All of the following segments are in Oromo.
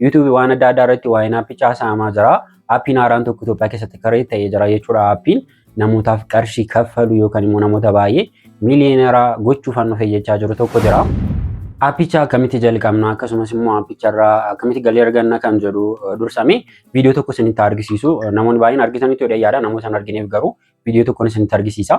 YouTube waan adda addaa irratti waa'een aappii caasa'amaa jira. Aappiin haaraan tokko Itoophiyaa keessatti karee ta'ee jira jechuudha. Aappiin namootaaf qarshii kaffalu yookaan immoo namoota baay'ee miiliyoonera gochuuf hannu fayyachaa jiru tokko jira. Aappicha akkamitti jalqabna akkasumas immoo aappicharraa akkamitti galii arganna kan jedhu dursamee viidiyoo tokko isinitti argisiisu namoonni baay'een argitanitti yoo yaada namoota hin argineef garuu viidiyoo tokkoon isinitti argisiisa.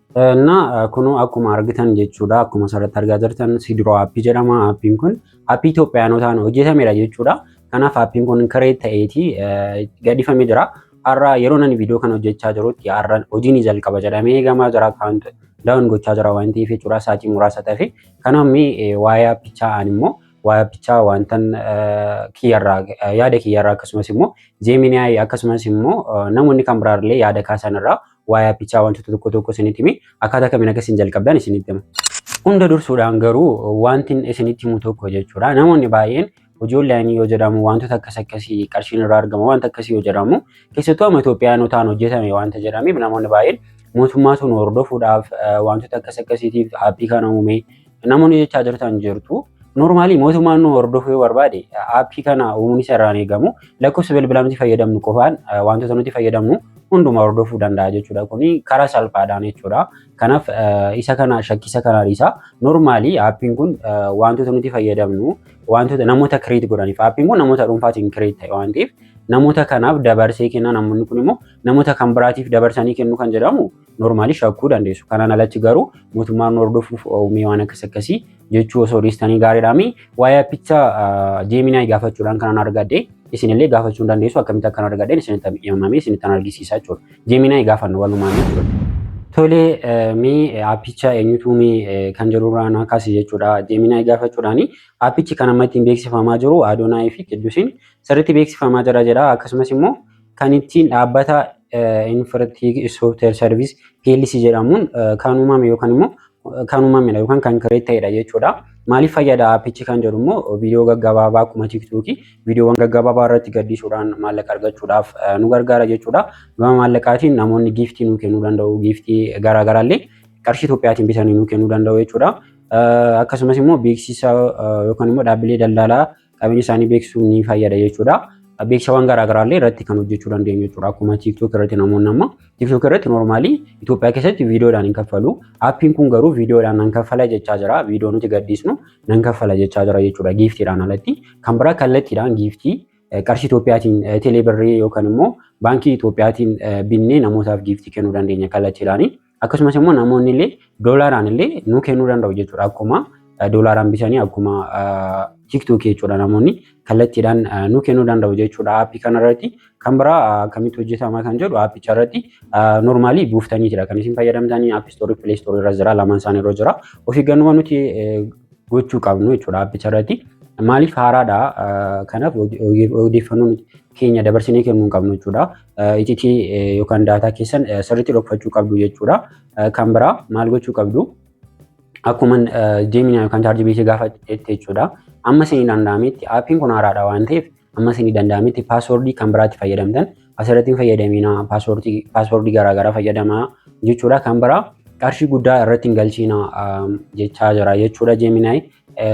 እና kunuu akkuma argitan jechuudha akkuma asirratti argaa jirtan sidroo aappii jedhama aappiin kun aappii Itoophiyaanotaan hojjetamedha jechuudha kanaaf aappiin kun kiree ta'eeti gadhifame jira har'a yeroo nani viidiyoo kan hojjechaa jirutti har'a hojiin ni jalqaba jedhamee eegamaa jira akkaawunti daawun gochaa jira waan ta'eef jechuudha saatii muraasa ta'e kanaaf waa'ee aappichaa ani immoo waa'ee aappichaa wantan kiyyarraa yaada kiyyarraa akkasumas immoo jeeminaayi akkasumas immoo namoonni kan biraarlee yaada kaasanirraa waa'ee appichaa wantoota tokko tokko isinitti himi akkaataa kamiin akka isin jalqabdan isinitti hima. Hunda dursuudhaan garuu wanti isinitti himu tokko jechuudha. Namoonni baay'een hojii onlaayinii yoo jedhamu wantoota akkas akkasii qarshiin irraa argama wanta akkasii yoo jedhamu keessattuu amma Itoophiyaanotaan hojjetame wanta jedhameef namoonni baay'een mootummaatu nu hordofuudhaaf wantoota akkas akkasiitiif aappii kana uumee Namoonni jechaa jirtan jirtu. Noormaalii mootummaan nu hordofuu yoo barbaade aappii kana uumuun isa irraan eegamu lakkoofsa bilbilaa nuti fayyadamnu qofaan wantoota nuti fayyadamnu hunduma hordofuu danda'a jechuudha. Kuni karaa salphaadhaan jechuudha. Kanaaf isa kana shakkisa kanaa dhiisa. Noormaalii aappiin kun wantoota nuti fayyadamnu wantoota namoota kireet godhaniif aappiin kun namoota dhuunfaatiin kireet ta'e waan ta'eef namoota kanaaf dabarsee kenna namoonni kun immoo namoota kan biraatiif dabarsanii kennu kan jedhamu noormaalii shakkuu dandeessu. Kanaan alatti garuu mootummaan nu hordofuuf uumee waan akkas akkasii jechuu osoo dhiistanii gaariidhaami. Waa'ee appicha Gemini gaafachuudhaan kanan argadhe isinillee gaafachuu hin dandeessu akkamitti akkan argadhe isinitti himamee isinitti argisiisaa jechuudha. Gemini gaafanna walumaan jechuudha. Tole mee appicha eenyutu uumee kan jedhurraa naa kaase jechuudha. Gemini gaafachuudhaan appichi kan amma ittiin beeksifamaa jiru Adonai fi Qiddusiin sirriitti beeksifamaa jira jedha. Akkasumas immoo kan ittiin dhaabbata Infratic Software Service PLC jedhamuun kan uumame yookaan immoo kan uumamedha yookaan kan kireet ta'edha jechuudha. Maaliif fayyada aappichi kan jedhu immoo viidiyoo gaggabaabaa akkuma tiiktookii viidiyoowwan gaggabaabaa irratti gadhiisuudhaan maallaqa argachuudhaaf nu gargaara jechuudha. Gama maallaqaatiin namoonni giiftii nu kennuu danda'u giiftii garaagaraallee qarshii Itoophiyaatiin bitanii nu kennuu danda'u jechuudha. Akkasumas immoo beeksisa yookaan immoo dhaabbilee daldalaa qabeenya isaanii beeksisuu ni fayyada jechuudha. Beeksisawwan garaagaraa illee irratti kan hojjechuu dandeenyu jechuudha. Akkuma TikTok irratti namoonni amma TikTok irratti normaalii Itoophiyaa keessatti viidiyoodhaan hin kaffalu. Appiin kun garuu viidiyoodhaan nan kaffala jechaa jira. Viidiyoo nuti gadhiisnu nan kaffala jechaa jira jechuudha giiftiidhaan alatti. Kan biraa kallattiidhaan giiftii qarshii Itoophiyaatiin teeleebirrii yookaan immoo baankii Itoophiyaatiin binnee namootaaf giiftii kennuu dandeenya kallattiidhaanii. Akkasumas immoo namoonni illee doolaaraan illee nuu kennuu danda'u jechuudha. Akkuma doolaaraan bitanii akkuma tiktookii jechuudha namoonni kallattiidhaan nuu kennuu danda'u jechuudha aappii kanarratti. Kan biraa akkamitti hojjetama kan jedhu aappicha irratti noormaalii buuftanii jira kan isin fayyadamtanii aappii istoorii pilee istoorii irra jira lamaan isaanii irra jira. Of eeggannoo nuti gochuu qabnu jechuudha aappicha irratti. Maaliif haaraadha kanaaf odeeffannoo keenya dabarsinee kennuu hin qabnu jechuudha. ititii yookaan daataa keessan sirriitti dhokfachuu qabdu jechuudha. Kan biraa maal gochuu qabdu? Akkuma Gemini yookaan ChatGPT gaafatetti jechuudha. Amma isinii danda'ametti aappiin kun haaraadha waan ta'eef amma isinii danda'ametti paaswoordii kan biraatti fayyadamtan asirratti hin fayyadamina paaswoordii garaagaraa fayyadamaa jechuudha. Kan biraa qarshii guddaa irratti hin galchiina jechaa jira jechuudha Gemini.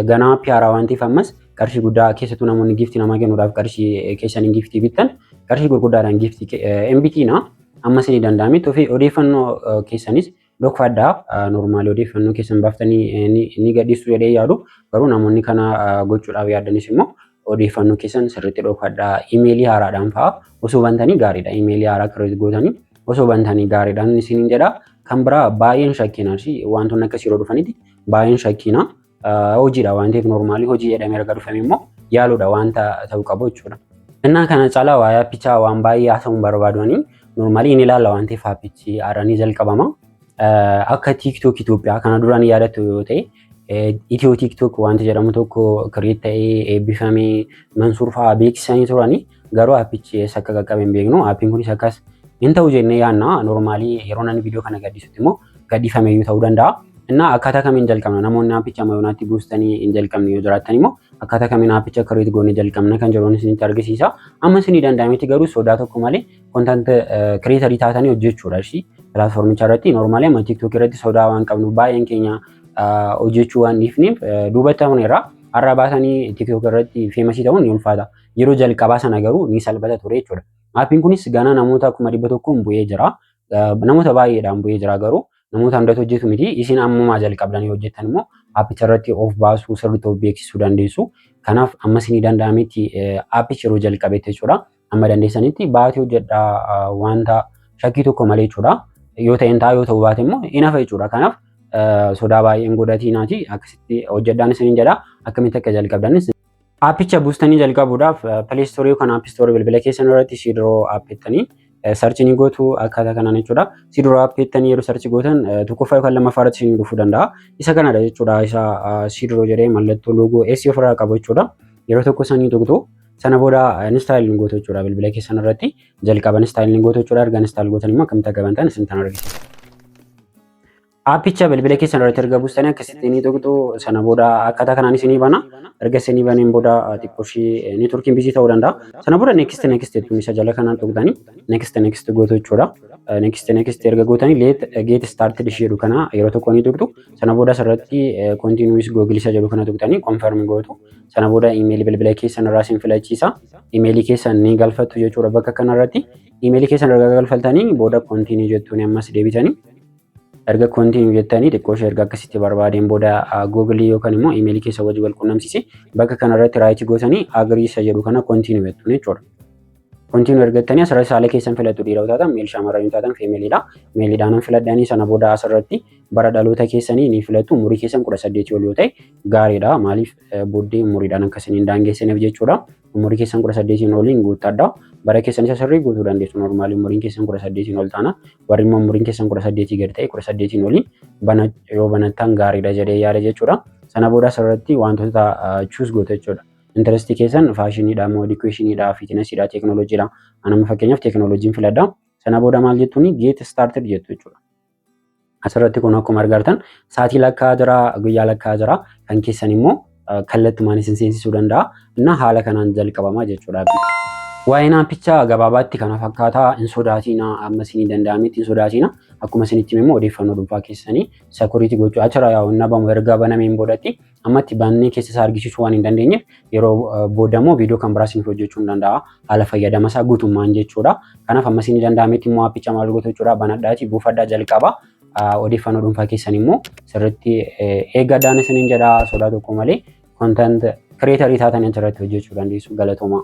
Ganaa piyaaraa waan ta'eef ammas qarshii guddaa keessattuu namoonni giiftii namaa kennuudhaaf qarshii keessaniin giiftii bittan qarshii gurguddaadhaan giiftii hin bitiina. Amma isinii danda'ame tufii odeeffannoo keessanis dhokfadhaa normaalii odeeffannoo keessan baaftanii ni gadhiistu jedhee yaadu garuu namoonni kana gochuudhaaf yaaddanis immoo odeeffannoo keessan sirriitti dhokfadhaa imeelii haaraadhaan fa'a osoo bantanii gaariidha imeelii haaraa kireet gootanii osoo bantanii gaariidhaan isiniin jedha kan biraa baay'een shakkiin arsii wantoonni akkasii yeroo dhufanitti Baay'ee hin shakkiina. Hojiidha waan ta'eef noormaalii hojii jedhamee erga dhufame immoo yaaluudha wanta ta'uu qabu jechuudha. Innaa kana caalaa waa'ee appichaa waan baay'ee haasa'uun barbaadanii noormaalii inni ilaalla waan ta'eef appichi haaranii jalqabama. Akka TikTok Itoophiyaa kana duraan yaadattu yoo ta'e Itiyoo TikTok wanti jedhamu tokko kireet ta'ee eebbifamee Mansuur fa'aa beeksisanii turanii Garuu appichi eessa akka qaqqabe hin beeknu. Appiin kunis akkas hin ta'u jennee yaanna. Normaalii yeroo namni viidiyoo kana gaddisutti immoo gadhiifameeyyuu ta'uu danda'a. Innaa akkaataa kamiin jalqabna? Namoonni appicha amma yoonaatti buustanii hin jalqabne yoo jiraattan immoo akkaataa kamiin appicha kireet goone jalqabna kan jedhuun isinitti argisiisa. Amma isinii danda'ametti garuu sodaa tokko malee kontant kireetarii taatanii hojjechuudha ishii pilaatfoormicha irratti. Normaalii amma tiiktookii irratti sodaa waan qabnu baay'een keenya hojjechuu waan dhiifneef duubatti hafneerra. Har'a baasanii tiiktookii irratti feemasii ta'uun ni ulfaata. Yeroo jalqabaa sana garuu ni salphata ture jechuudha. Appiin kunis ganaa namoota kuma dhibba tokkoon bu'ee jira. Namoota baay'eedhaan bu'ee jira garuu namoota hundatu hojjetu miti. Isin ammumaa jalqabdanii hojjettan immoo appicha irratti of baasuu sirriitti of beeksisuu dandeessu. Kanaaf amma isinii danda'ametti appichi yeroo jalqabetti jechuudha. Amma dandeessanitti baatii hojjedhaa wanta shakkii tokko malee jechuudha. Yoo ta'een ta'a yoo ta'uu baate immoo hin hafa jechuudha. Kanaaf sodaa baay'een godhatii naati akkasitti hojjedhaan isiniin jedha akkamitti akka jalqabdanis Aappicha buustanii jalqabuudhaaf Play Store yookaan App Store bilbila keessan irratti Siidroo app jettanii sarchi ni gootu akkaataa kanaan jechuudha. Siidroo app jettanii yeroo sarchi gootan tokkoffaa yookaan lammaffaa irratti isin dhufuu danda'a. Isa kanadha jechuudha. Isa Siidroo jedhee mallattoo loogoo S ofirraa qabu jechuudha. Yeroo tokko sanii tuqxu sana booda install ni gootu jechuudha bilbila keessan irratti jalqaba install ni gootu jechuudha erga install gootan immoo akkamitti akka bantan isin tan argisiisa. Aappicha bilbila keessan irratti erga buustanii akkasitti ni tuqxu sana booda akkaataa kanaan isinii bana erga isinii baneen booda xiqqoo ishii neetworkiin bizii ta'uu danda'a. Sana booda next next jettu isa jala kanaan tuqxanii next next gootu jechuudha. Next next erga gootanii let get started ishii jedhu kana yeroo tokko ni tuqxu sana booda asirratti continuous google isa jedhu kana tuqxanii confirm gootu sana booda email bilbila keessan irraa isin filachiisa email keessan ni galfattu jechuudha bakka kanarratti email keessan erga galfattanii booda continue jettuun ammas deebitanii erga continue jettanii xiqqoo ishee erga akkasitti barbaadeen booda google yookaan immoo email keessa wajji wal qunnamsiise bakka kana irratti raayiti gootanii agree isa jedhu kana continue jettu jechuudha. Continue erga jettanii asirratti saala keessan filattu dhiira yoo taatan meel shamarran yoo taatan feemeeliidha. Meeliidhaan filadhanii sana booda asirratti bara dhaloota keessanii ni filattu umurii keessan kudha saddeetii ol yoo ta'e gaariidha maaliif booddee umuriidhaan akkasiniin daangeessineef jechuudha. umurii keessan kudha saddeetiin oliin guuttadha. Bara keessan isa sirrii guutuu dandeessu normaalii umuriin keessan kudha saddeetiin ol taana. Warri immoo umuriin keessan kudha saddeetii gad ta'e kudha saddeetiin oliin bana yoo banattan gaariidha jedhee yaada jechuudha. Sana booda asirratti wantoota chuus gootu jechuudha. Intarestii keessan faashiniidha moo edikuweeshiniidha fiitinasiidha teekinooloojiidha. Anamma fakkeenyaaf teekinooloojiin filadha. Sana booda maal jettuuni geet staartid jettu jechuudha. Asirratti kun akkuma argartan sa'aatii lakkaa jira, guyyaa lakkaa jira. Kan keessan immoo kallattumaan isin seensisuu danda'a. Inna haala kanaan jalqabama jechuudha. Waa'een aappichaa gabaabaatti kana fakkaata. Hin sodaatiina amma isinii danda'ametti hin sodaatiina. Akkuma isinitti hime immoo odeeffannoo dhuunfaa keessanii sakuriitii gochuu achirra yaa'u hin dhabamu erga banameen boodatti ammatti baannee keessa isaa argisiisuu waan hin dandeenyeef yeroo booda immoo viidiyoo kan biraa isiniif hojjechuu hin danda'a. Haala fayyadama isaa guutummaan jechuudha. Kanaaf amma isin danda'ametti immoo aappicha maal gootu jechuudha banadhaatii buufadhaa jalqaba. Odeeffannoo dhuunfaa keessan immoo sirriitti eeggadhaan isiniin jedha sodaa tokko malee kontant kireetarii taatanii achirratti hojjechuu dandeessu galatoomaa.